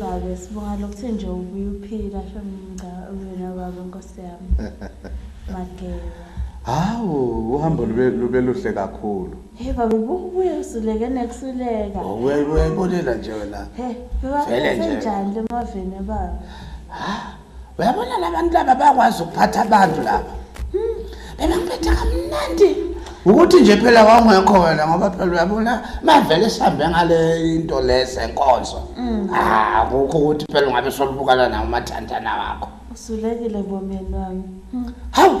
Babe sibonga lokuthe nje ubuye uphila shem ngca uyena babe nkosi yami. Mageba. Hawu uhambo lube lube luhle kakhulu. Hey babe bukubuye usuleke nekusuleka. Wena uyayibolela nje wena. Hey, Vele nje. Njani lemaveni baba? uyabona labantu laba bakwazi ukuphatha abantu laba hmm. bebangiphetha kamnandi ukuthi nje phela wawungekho wena ngoba phela uyabona mavele sihambe ngale into lese nkonzo hmm. ah kukho ukuthi phela ungabe solubukana nawo umathandana wakho usulekile bomyeni wami hmm. hawu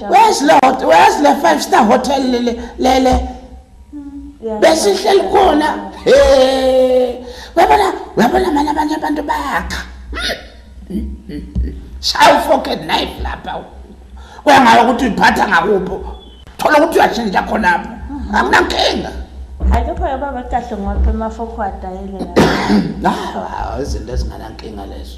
where's the where's the five star hotel lele lele besihleli khona uyabona uyabona mani abanye abantu bayakha shaya ufoke knife lapha kuyangala ukuthi uyiphatha ngakupho thola ukuthi uyashintsha khonapho akunankinga hayi lokho yababa kahle ngoba emafokhwada yile la izinto ezinganankinga lezo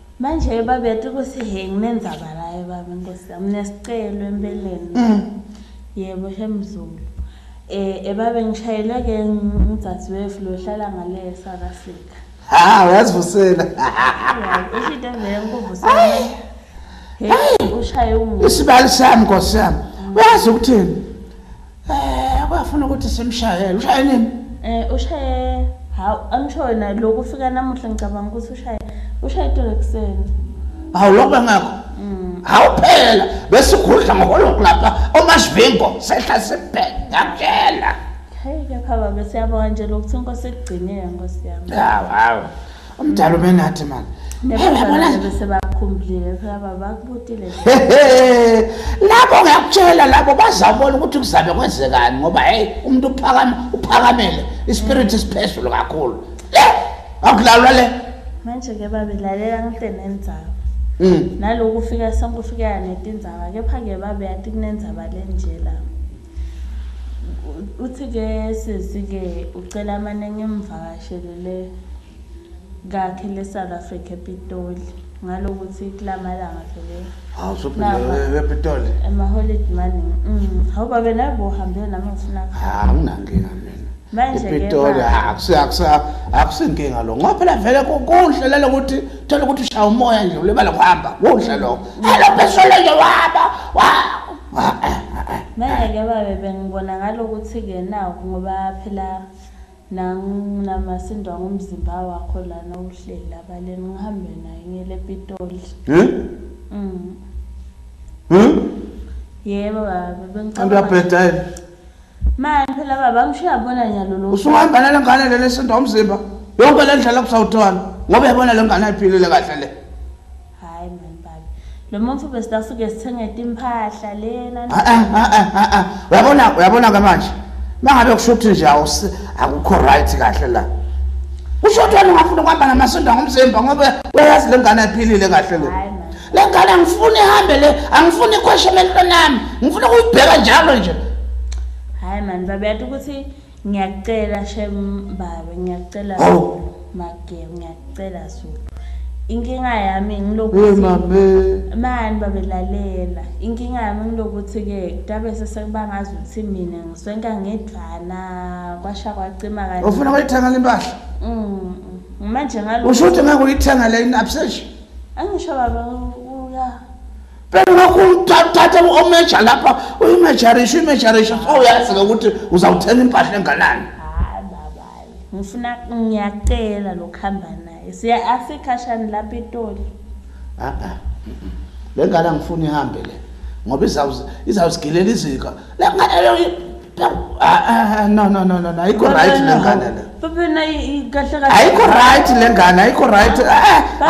Manje baba yathi ukuthi he nginenzaba layo baba inkosi yami nesicelo empeleni. Mm. Yebo shemzulu. Eh ebabe ngishayele ke ngidadewethu lo hlala ngale South Africa. Ha uyazivusela. Isho into vele ngikuvusela. Hey ushaye umuntu. Isibali sami nkosi yami. Mm. Uyazi ukuthini? Eh kwafuna ukuthi simshayele. Ushaye nini? Eh ushaye hawu amshona lokhu ufika namuhla ngicabanga ukuthi ushaye ushaye itolo ekuseni. Hawu lokho bengakho. Mm. Hawu phela bese ugudla ngolokhu lapha omasvingo sehla sibheke ngakutshela. Hey kepha baba siyabonga nje lokuthinko sekugcinile nkosi yami. Hawu hawu. Umdala ubenathi manje. Lapho ngiyakutshela labo bazabona ukuthi kuzabe kwenzekani ngoba hey umuntu uphakama uphakamele ispirit isiphezulu kakhulu. Le akulalwa le. Manje ke babe lalela ngithe nenzaba. Mm. Naloku ufika sonke ufika netindzaba kepha ke babe yathi kunenzaba lenje la. uthi ke sisi ke ucela amane ngimvakashele le kakhe le South Africa ePitoli ngalokuthi kulamalanga vele hawu sophinde ePitoli ema holiday mani mm hawu babe nabo uhambe nami ngifuna ah nginankinga mina manje ePitoli akusiyakusa akusinkinga lo ngoba phela vele kuhle lelo ukuthi thola ukuthi ushaya umoya nje ulibala kuhamba kuhle lo mm. hello phezulu nje waba wa Manje-ke babe bengibona ngalokuthi-ke naku ngoba phela nanginamasindo ngomzimba wakho lana uhleli lapha leni ngihambe naye ngiyele ePitoli. Eh? Mm. Eh? Yebo baba bengicabanga. Uyabheda yini? Mani phela baba angishiya bona nyalo lo. Usuhambana lengane lele sento umzimba. Yonke le ndlela kusawuthwana ngoba yabona lengane ayiphilile kahle le. Hayi mani baba. Lo muntu besida suke sithenge timphahla lena. Ah ah ah ah. ah, ah. Uyabona uyabona ke manje. Mangabe kushuthi nje akukho right kahle la. Usho ukuthi wena ungafuna ukuhamba namasonto ngomzimba ngoba uyayazi lengane ayiphilile kahle le. Hayi le ngane angifuni ihambe le angifuni ikhweshe emehlweni nami ngifuna ukuyibheka njalo nje hhayi mani babe yathi ukuthi ngiyakucela shem babe ngiyakucela oh. mage ngiyakucela zulu inkinga yami ngilokuthi mani babelalela inkinga yami ngilokuthi-ke kutabe sesebangazi ukuthi mina ngiswenka ngedvana kwasha kwacima kani ufuna kuyithengela impahla mm, mm. manje ngalo usho ukuthi ngeke uyithengele in-absession angisho baba uya phela lokhu uthathe omeja lapha uyimejarisha uyimejarisha so uyazi-ke ukuthi uzawuthenga impahla enganani hayi baba ngifuna ngiyacela lokuhamba naye siya asikhashani lapha etoli a-a le ngane angifuni ihambe le ngoba izawuzigilela izika no no no no ayikho right le ngane le baba nayi kahle kahle ayikho right le ngane ayikho right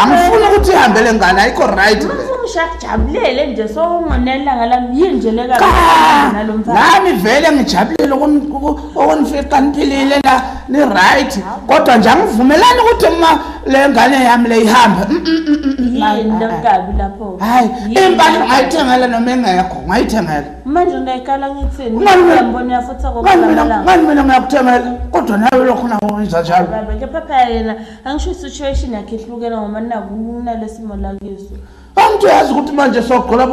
angifuni ukuthi ihambe le ngane ayikho right le ngishakujabulele nje sowungonela ngalami yini nje le nami vele ngijabulele okunifica niphilile la ni-right kodwa nje angivumelani ukuthi uma le ngane yami le ihambe mm, mm, mm, yini lokukabi lapho hayi impahla ngayithengela noma engekho ngayithengela manje ungayikala ngithini ngiyambona uyafutha kokulambalangani mina ngiyakuthemela kodwa nawe lokho nawo wenza njalo baba kepha phela yena angisho i-situation yakhe ihlukela ngoba nakuna lesimo lakiso angithi uyazi ukuthi manje sogqola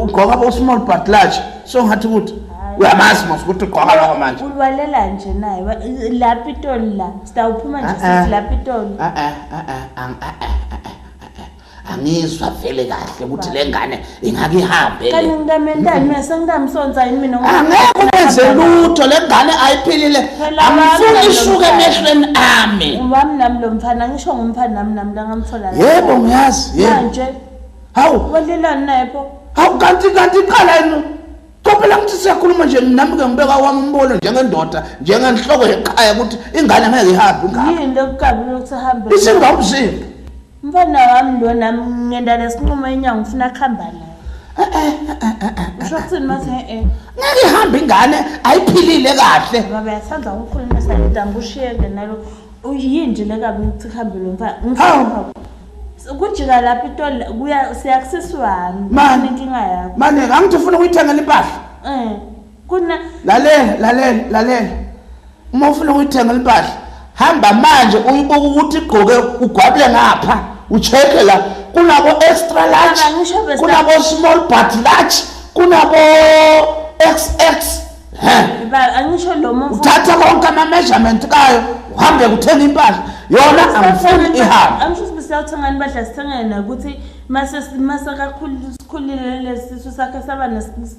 ugqoka bo-small but large so ngathi ukuthi uyamazi mos ukuthi ugqoka loko manje ulwalela nje naye la pitoli la sitawuphuma nje sithi la pitoli angizwa vele kahle ukuthi le ngane ingake ihambe le. Kanti ngikamendani mina sengikamsonza yini mina ngoba Angeke ubenze lutho le ngane ayiphilile. Phela wami Angifuni nami ishuke lomfana. emehlweni ami. wami nami lo mfana ngisho ngumfana nami nami la ngamthola la. Yebo ngiyazi. Yebo. Manje Hawu. walelani naye pho? Hawu kanti kanti iqala yini? Kophela ngithi siyakhuluma nje nami ke ngibeka wami umbono njengendoda njengenhloko yeqhaya ukuthi ingane ngeke ihambe ingane. Yini lokukabi lokuthi ahambe? Isingawumzimba. Mfana wami lo nami ngenda lesinqumo enyanga ufuna kuhamba naye. Usho kuthini mase eh? Ngeke ihambe ingane ayiphilile kahle. Baba yathanda ukukhuluma sanida ngibushiyeke nalo. Uyinje lekabi ukuthi kuhambe lo mfana. Ngifuna kujika lapha itoli kuya siyakusisi wami. Mani inkinga yakho. Mani ngangithi ufuna ukuyithengela impahla. Eh. Kuna lalela lalela lalela. Uma ufuna ukuyithenga impahla hamba manje uyibuka ukuthi igqoke ugwabule ngapha ucheke la kunabo extra large kunabo small but large kunabo xx angisho lo muntu uthatha konke ama measurement kayo uhambe kuthenga impahla yona angifuni ihambe angisho ukuthi siyawuthenga impahla sithengele nakuthi mase mase kakhulu sikhulile lesisu sakhe saba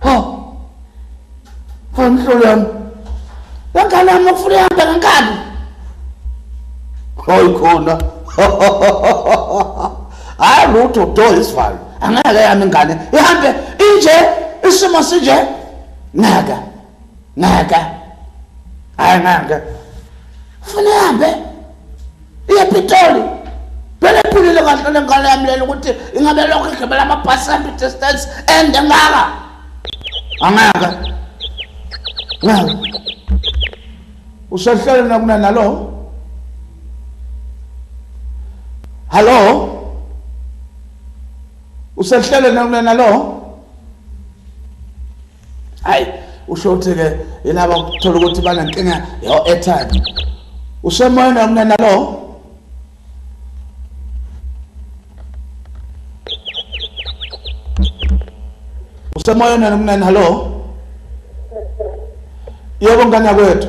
Ho. Ho mhlolo yami. Wengane yami ufuna ihamba ngenkani. Hoy khona. Hayi lutho do isivalo. Angeke yami ingane. Ihambe inje isimo sinje. Ngeke. ngaka hayi ngaka funa ihambe iye pitoli phela iphilile kahle le ngane yami lena ukuthi ingabe lokho igibela amabhasi ambi distance ende ngaka angaka ngaka usehlele nakuna nalo hallo usehlele nakuna nalo hayi usho ukuthi ke yilaba ukuthola ukuthi banenkinga yo airtime usemoyeni umnana lo usemoyeni umnana lo yebo ngane yakwethu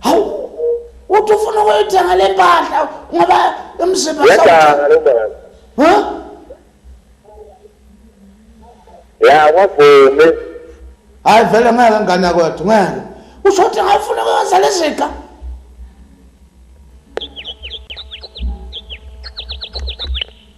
hawu uthi ufuna ukuyithenga le mpahla ngoba umzimba ya wavume hayi vele ngeke ngane kwethu ngeke usho ukuthi ngafuna ukwenza leziqa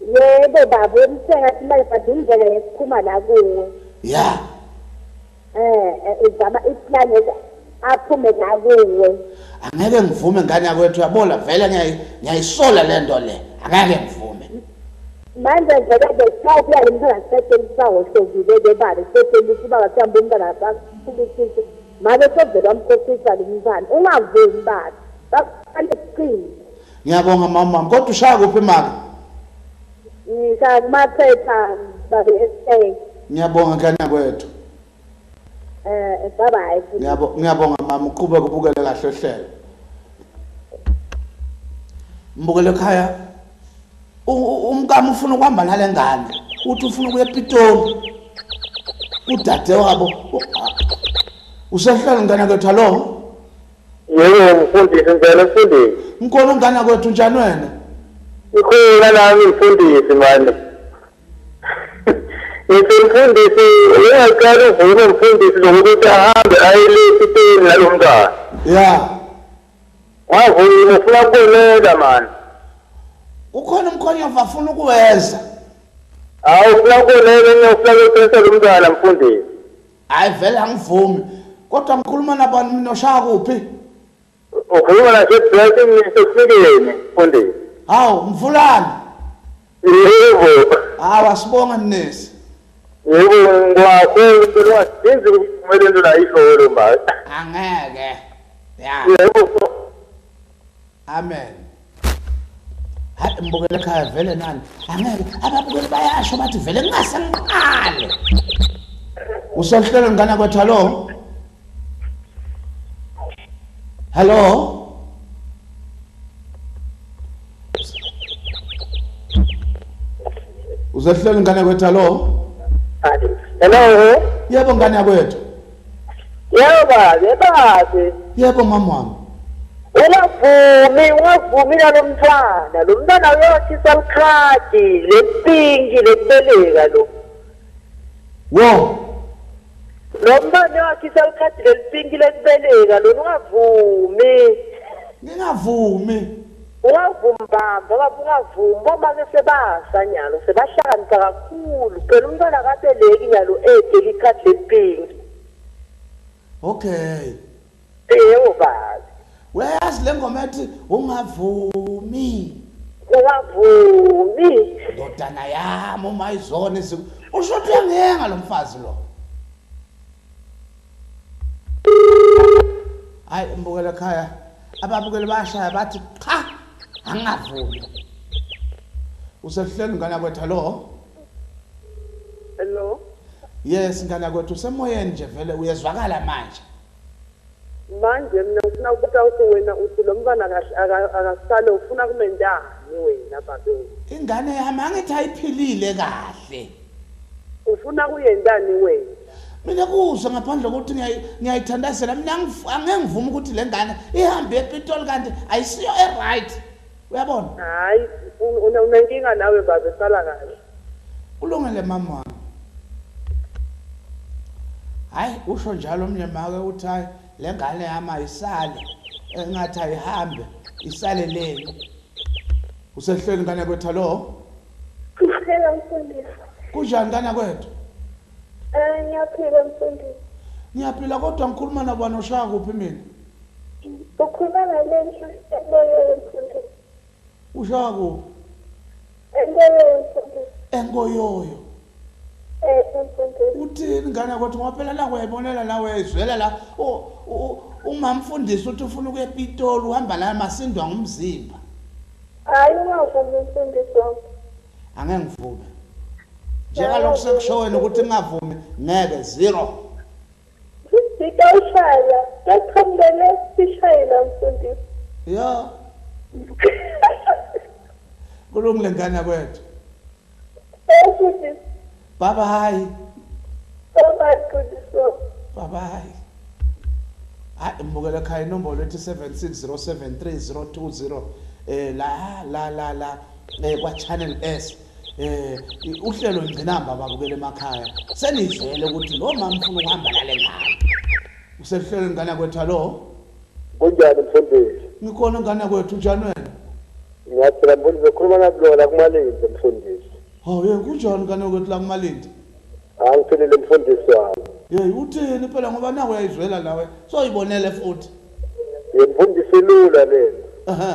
Yebo baba wemsenga simanje but indlela yesiphuma la kuwe. Yeah. Eh, eh uzama iplan yethu aphume la kuwe. Angeke ngivume ngane yakwethu yabola vele ngiyayisola lento le. Angeke ngivume. Manje vele ke cha kuya limphela sesele sawo sokile ke baba sesele siba kathamba umntana wakho ukuthi manje sovela umkhohlisa lomntana ungavumi baba. Bakufanele siqine. ngiyabonga mama kodwa ushaya kuphi maka ngishaya kumaphepha babe esay ngiyabonga kanya kwethu eh bye bye ngiyabo ngiyabonga mama uqhubeka ubukele kahle ohlelo mbukele ekhaya umkami ufuna ukuhamba nale ngane uthi ufuna ukuya epitoli udade wabo usehlala ngane kwethu alowo Yebo mfundisi ngicela ukufundisa. Ngikhona ungana kwethu njani wena? Ngikhona nami mfundisi manje. Ngithi mfundisi uyaqala uvume mfundisi lokuthi ahambe aye le sitini nalo mntwana. Yeah. Wavuma ufuna kubonela manje. Ukhona umkhonyovu afuna ukuwenza. Hawu ufuna kubonela ngiyofuna ukuthetha lo mntwana mfundisi. Hayi vele angivumi. Kodwa ngikhuluma nabani mina oshaya kuphi? Ukhuluma nase Blessing ngisesikeni mfundisi. Hawu mvulani. Yebo. Hawu asibonge mnisi. Yebo ngwakhulu kulwa sinzi kumele into la isholo manje. Angeke. Yeah. Yebo. Amen. Hayi mbukele ekhaya vele nani. Angeke ababukeli bayasho bathi vele ngase ngiqale. Usohlelo ngana kwethu hallo. Hallo. Uzohlelo ngana kwethu hallo. Hello. Yebo ngane yakwethu. Yebo babe, babe. Yebo mama wami. Ungavumi, ungavumi nalo mntwana. Lo mntwana uyothi salikhadi, lepinki, leteleka lo. Wo. Lo mntwana wakhe salikhadi lelipinki lekubeleka lona ungavumi. Ngingavumi. Ungavumi bamba baba ungavumi bomake sebasa nyalo sebahlakanipha kakhulu phela umntwana akabeleki nyalo ede likhadi lempingi okay yebo baba uyayazi le ngoma ethi ungavumi ungavumi ndodana yami uma izona usho ukuthi uyangiyenga lo mfazi lo hayi mbukelo khaya ababukeli bashaya bathi cha angavumi usehleli ngana kwethu lo hello yes ngana kwethu usemoyeni nje vele uyezwakala manje manje mina ngifuna ukubuta ukuthi wena uthi lo mntwana akasale ufuna kumentani wena babe ingane yami angithi ayiphilile kahle Ufuna kuyentani wenja? Mina kuzwa ngaphandle kokuthi ngiyayi ngiyayithandazela mina angif- angeke ngivume ukuthi le ngane ihambe epitoli kanti ayisiyo e-right uyabona Hayi, un- una- unenkinga nawe babe sala kahle. kulungele mama wami hayi usho njalo omnye make uthi hayi le ngane yami ayisale engathi ayihambe isale leni usehlweni ngane kwetha lo Ngicela mfundisi. Kunjani kana kwethu? Eh ngiyaphila mfundisi. Ngiyaphila kodwa ngikhuluma nabani oshaya kuphi mina? Ukhuluma nalenhla eboyeni mfundisi. Ushaya kuphi? Enkoyoyo mfundisi. Enkoyoyo. Eh mfundisi. Uthini ngane kwethu ngoba phela la uyayibonela la uyayizwela la umamfundisi uthi ufuna ukuya ePitoli uhamba la masindwa ngumzimba. Hayi ungavumi mfundisi wami. Angeke ngivume. Njengalokho sekusho wena ukuthi ngingavumi ngeke zero. Sisika ushaya, sekukhambele sishayela mfundisi. Yeah. Kulungile ngane kwethu. Bye bye. Bye bye Qiniso. Bye bye. Hayi mbukela ekhaya inombolo ethi 7607302 eh la la la la eh kwa channel S eh uhlelo ngcinamba babukele emakhaya senizele ukuthi lo mama ufuna ukuhamba nale ngane usehlelo ngane kwethu lo Kunjani mfundisi? Ngikhona ngane kwethu njani wena? Ngiyaphila mfundisi ukhuluma nakulola kumalindi mfundisi. Hawu yena kunjani ngane kwethu la kumalindi? Angiphilile mfundisi wami. Hey uthini phela ngoba nawe uyayizwela nawe soyibonele futhi. Yemfundisi lula lena. Ehhe.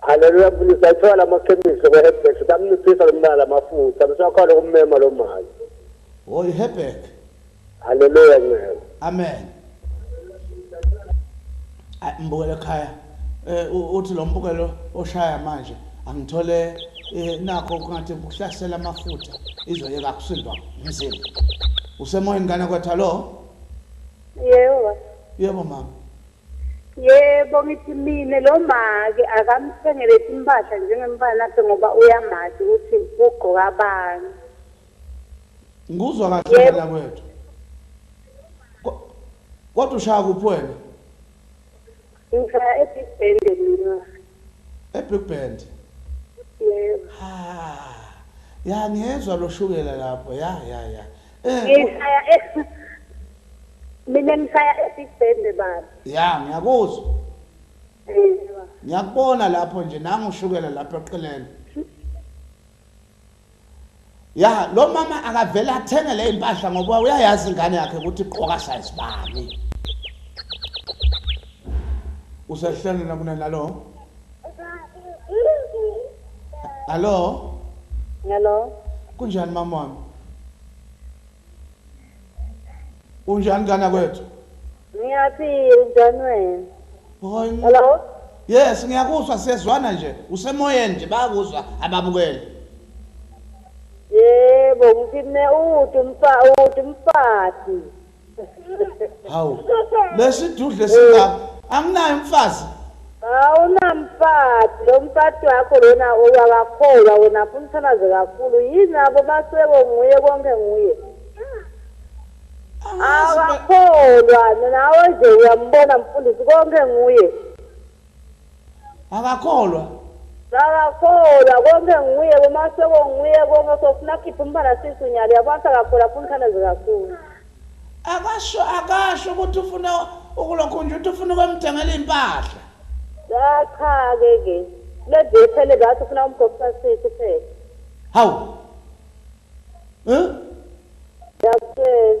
Haleluya mfundisi ayithola lamakhemisi ko Hebrew bamnciphisa lomntana lamafutha besakhona kummema lo mali. Oh Hebrew. Haleluya ngeke. Amen. Mbukele ekhaya eh uthi lo mbukelo oshaya manje angithole eh nakho kungathi ukuhlasela amafutha izoyeka kusindwa umzimba. Usemoyeni kana kwetha lo? Yebo. Yebo mama. Yebo ngithi mina lo make akamthengele timpahla njengemfana wakhe ngoba uyamazi ukuthi ugqoka abanye. Ngikuzwa kahle Yebo. ngane yakwethu. Ko- Kodwa ushaya kuphi wena? Ngishaya e-Big Bend mina. E-Big Bend. Yebo. Ha. Ya ngiyezwa loshukela lapho. Ya ya ya. Ngisaya e- mina ngisaya esibhende baba. Ya ngiyakuzwa. Ngiyakubona lapho nje nangu ushukela lapha eqeleni. Ya lo mama akavele athenge le impahla ngoba uyayazi ingane yakhe ukuthi iqoka size bani. Usehlelena kunenalo. Hello. Hello. Kunjani mama wami? Unjani kana kwethu? Ngiyaphila njani wena? Hoy. Hello. Yes, ngiyakuzwa siyezwana nje. Usemoyeni nje bayakuzwa ababukeli. Yebo, ngithine uthi umfa uthi umfati. hawu lesidudle singaka anginayo umfazi awunamfati lo mfati wakho lona owakakholwa wena funa uthalaze kakhulu yini abo baseko nguye konke nguye awakholwa nawe nje uyambona mfundisi konke nguye Akakholwa. Akakholwa. Konke nguye, boMasoko nguye konke so funa akhiphe umfana sisu nyalo yabo athi akakholwa afuna ithandazo kakhulu. Akasho akasho ukuthi ufuna ukulokhu nje uthi ufuna ukwemthengela impahla. Cha cha ke ke. Lezi yephele bathi ufuna umgobisa sisu phela. Hawu. Huh? Yaphela.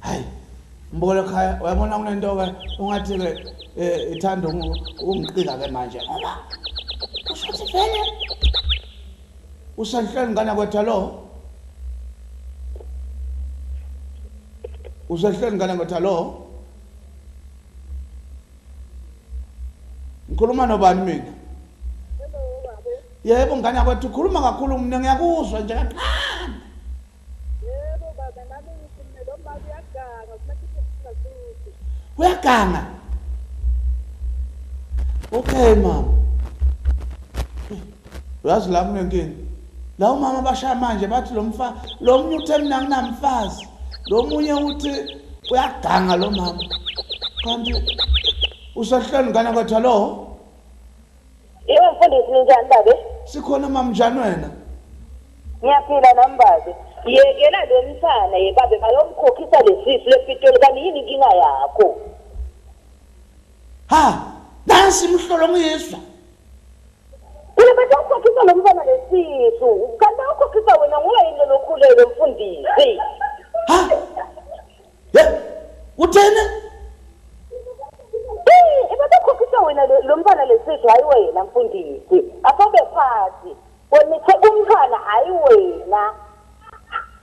hayi mbukele khaya uyabona kunento-ke ungathi-ke um eh, ithanda ungiqika-ke manje ngoba usho ukuthi vele usenhlweni ngane kwetha lo usenhlweni ngane kwetha lo ngikhuluma nobani mina yebo ngane yakwethu ukhuluma kakhulu mina ngiyakuzwa nje kancane uyaganga okay mama uyazi la kunenkinga la umama bashaya manje bathi lo mfa lo munye uthe mina nginamfazi lo munye uthi uyaganga lo mama kanti usehlweni ngane kwethu alo Yebo mfundisi ninjani babe? Sikhona mama njani wena? Ngiyaphila nami babe. Yekela lo msana ye babe bayomkhokhisa lesisu lepitoli kanti yini inkinga yakho? Ha, nansi imhlolo ngiyizwa. Kule bese ukhokhisa lo msana lesisu. Kanti ukhokhisa wena nguwe yini lokhulelo mfundisi? Ha? Ye, uthene? Eh, ebabekhokhisa wena lo- lo mfana lesizwe hayi wena mfundisi. Asobe phansi. Wena uthe umfana hayi wena.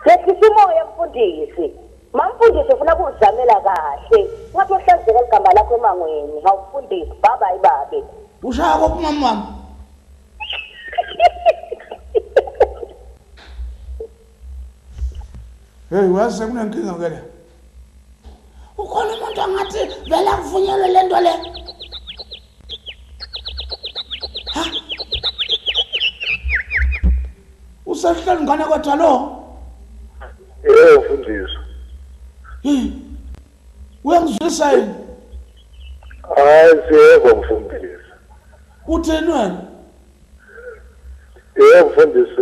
Yehlisa umoya mfundisi. Mamfundisi ufuna kuzamela kahle. Ngathi ohlazeka ligama lakho emangweni. Ngawufundisi baba ayibabe. Ushaya kophi mama wami? Hey wazi sekunenkinga ke la. Ukhona umuntu angathi vele akuvunyelwe lento le. Ha? Usehleli ngane kwethu lo. Eh ufundisa. Hmm. Uyangizwisa yini? Hayi siyebo mfundisi. Utheni wena? Eh mfundisi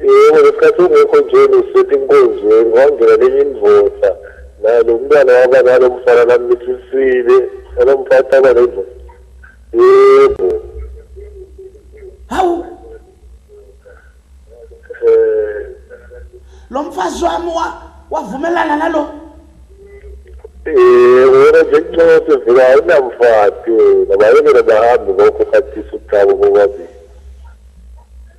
Yebo ngesikhathi ungekho nje ngisethi inkonzo ngangena nenye indvoda naye lo mntwana waba nalo mfana nami nithisile nalo mfana aba nendoda yebo hawu eh lo mfazi wami wavumelana nalo eh wena nje kuncothe vele awunamfati nabayekele bahambe lokho khathisa uthabo bobabili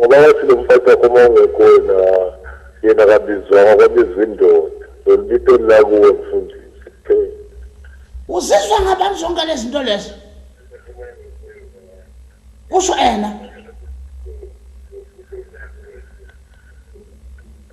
ngoba wathi lo mfazi wakho uma ungekho wena yena kabizwanga kwabizwa indoda lolibito lakuwe mfundisi uzizwa ngabani zonke lezi zinto lezi kusho ena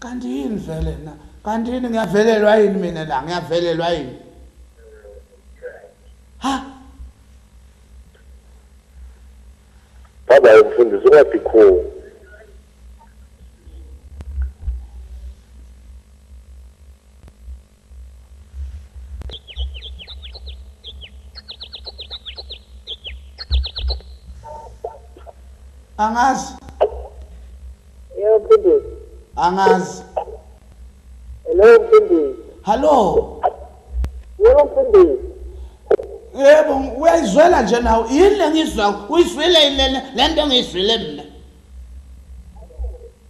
Kanti yini vele na? Kanti yini ngiyavelelwa yini mina la? Ngiyavelelwa yini? Ha? Baba umfundisi ungathi khona. angazi yebo mfundisi angazi hello mfundisi hallo yebo mfundisi yebo uyayizwela nje nawe yini le ngizwa uyizwile yini lena le nto engiyizwile mina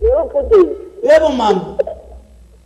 yebo mfundisi yebo mama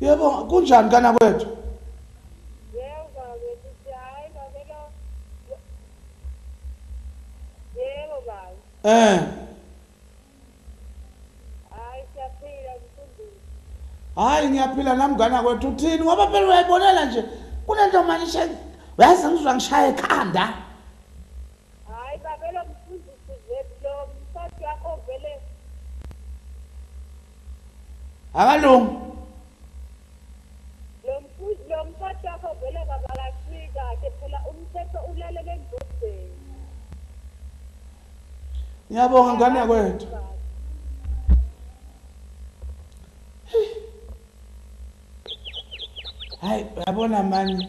yebo kunjani kana kwethu eh hayi ngiyaphila nami ngana kwethu uthini ngoba phela uyayibonela nje kunento manje uyazi ngizwa ngishaya ekhanda Hayi babe lomfundisi vele lo msati yakho vele. Akalungi. Lo mfundisi lo msati yakho vele baba kahlika ke phela umthetho ulalele endodeni. Ngiyabonga ngane yakwethu. hayi uyabona mani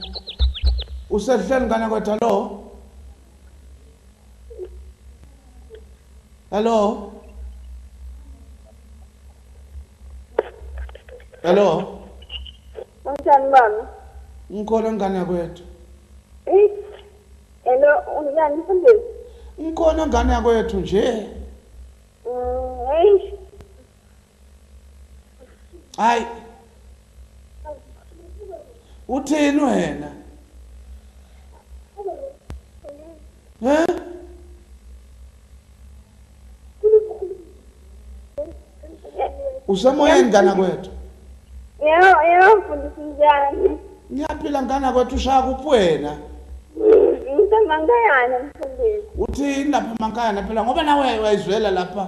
usehleni ngane kwethu hallo hallo hallo unjani mama ngikhona ngane kwethu hello unjani mfundisi ngikhona ngane yakwethu nje mm, hayi uthini wena he usemoyeni ngana kwethu yebo yebo mfundisi njani ngiyaphila ngana kwethu ushaya kuphi wena ngisemankayana mfundisi uthini lapha emankayana phela ngoba nawe wayizwela lapha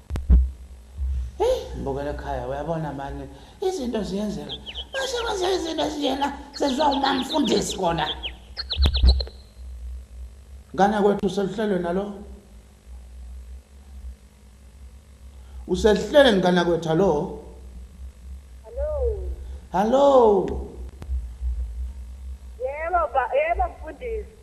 Hey, mbukele khaya uyabona manje izinto ziyenzeka. Mase kwenza izinto ezinjena sezwa umamfundisi kona. Ngane kwethu seluhlelwe nalo. Usehlele ngana kwethu hallo. Hallo. Hallo. Yebo ba, yebo mfundisi.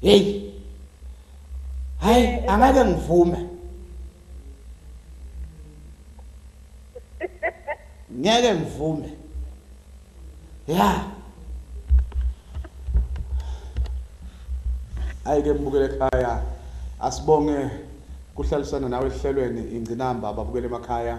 hey hayi angeke ngivume ngeke ngivume ya ayike mbukele ekhaya asibonge kuhlalisana nawe ehlelweni ingcinamba ababukele emakhaya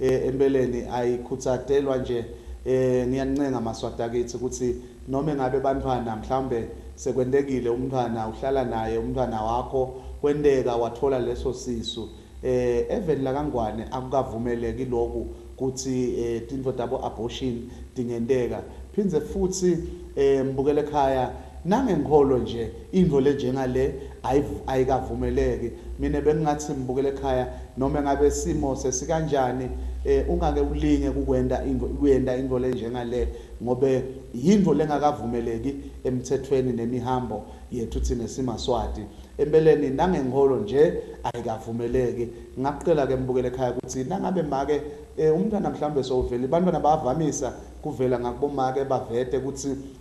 Empeleni ayikhutsadelwa nje ngiyanincenga maswati akithi ukuthi noma engabe bantwana mhlawumbe sekwentekile umntwana uhlala naye umntwana wakho kwenteka wathola leso sisu eveni laka Ngwane akukavumeleki loku kuthi tintfo tabo abortion tingenteka phindze futhi mbukelekhaya Nangenkolo nje into le njengale ayikavumeleki mina bengingathi simbukele ekhaya noma ngabe isimo sesikanjani ungake ulinge kukwenda into kuyenda into le njengale ngobe yinto lengakavumeleki emthethweni nemihambo yethu thina simaswati empeleni nangenkolo nje ayikavumeleki ngakucela ke mbukele ekhaya ukuthi nangabe make umntwana mhlawumbe sowuveli bantwana bayavamisa kuvela ngakubomake bavete ukuthi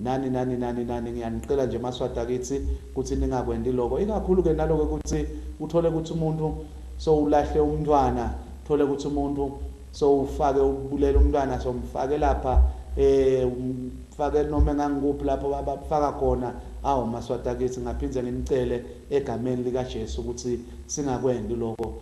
Nani nani nani nani ngiyanicela nje maswati akithi kuthi ningakwendi loko ikakhulu ke naloko kuthi uthole kuthi umuntu so ulahle umntwana thole kuthi umuntu so ufake ubulela umntwana so mfake lapha eh mfake noma engangikuphi lapho abafaka khona awu maswati akithi ngaphinde nginicele egameni lika Jesu ukuthi singakwendi loko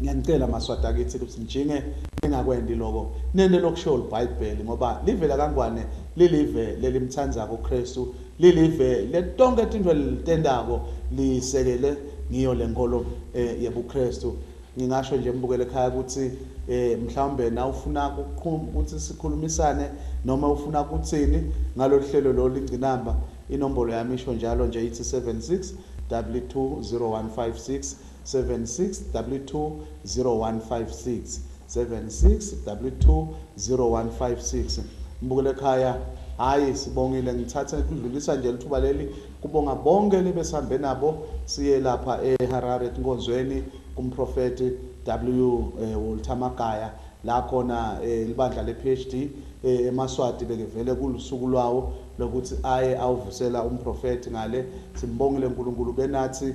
Ngiyanicela maswati akithi ukuthi nijinge ningakwendi loko nende lokusho libhayibheli ngoba live lakangwane lilive lelimtsandzako uKristu lilive letonke tintfo lelitentako lisekele ngiyo lenkolo eh, yebuKristu ngingasho nje mbukele ekhaya ukuthi eh mhlawumbe na ufuna ukuqhuma ukuthi sikhulumisane noma ufuna ukuthini ngalolu hlelo lo lingcinamba inombolo yami isho njalo nje ithi 76 W20156 76W20156 76W20156 Mbukelekhaya Hayi sibongile ngithathe ngidlulisa nje lithuba leli kubonga bonke nibesambe nabo siye lapha eHarare etinkonzweni kumprofeti W eh, Walter Magaya la khona eh, libandla lePhD eh, eMaswati bekevele kulusuku lwawo lokuthi aye awuvusela umprofeti ngale simbongile uNkulunkulu benathi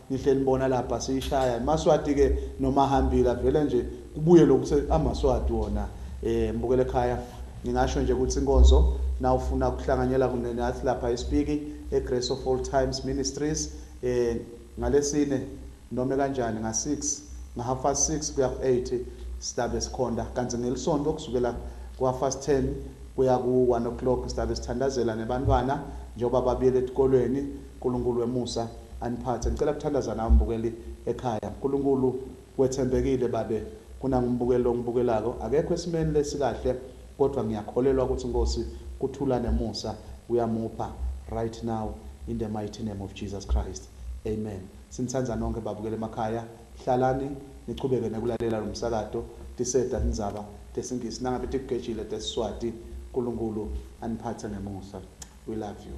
Nihle nibona lapha siyishaya imaswati ke nomahambila vele nje kubuye lokuthe amaswati wona eh mbukele ekhaya ngingasho nje ukuthi inkonzo nawufuna ukuhlanganyela kunene athi lapha isipiki eGrace of All Times Ministries eh ngalesine noma kanjani nga 6 nga half past 6 kuya ku 8 sidabe sikhonda kanti ngelisonto kusukela ku half past 10 kuya ku 1 o'clock sidabe sithandazela nebantwana njengoba babuyele etikolweni Nkulunkulu wemusa aniphathe ngicela kuthandaza nawe mbukeli ekhaya nkulunkulu wethembekile babe kunangumbukeli longibukelako akekho esimeni lesikahle kodwa ngiyakholelwa ukuthi nkosi kuthula nemusa uyamupha right now in the mighty name of Jesus Christ amen sinithanda nonke babukeli emakhaya hlalani nichubeke nekulalela lomsakado tiseda tindzaba tesingisi nangabe tikugejile tesiswati nkulunkulu aniphathe ngemusa we love you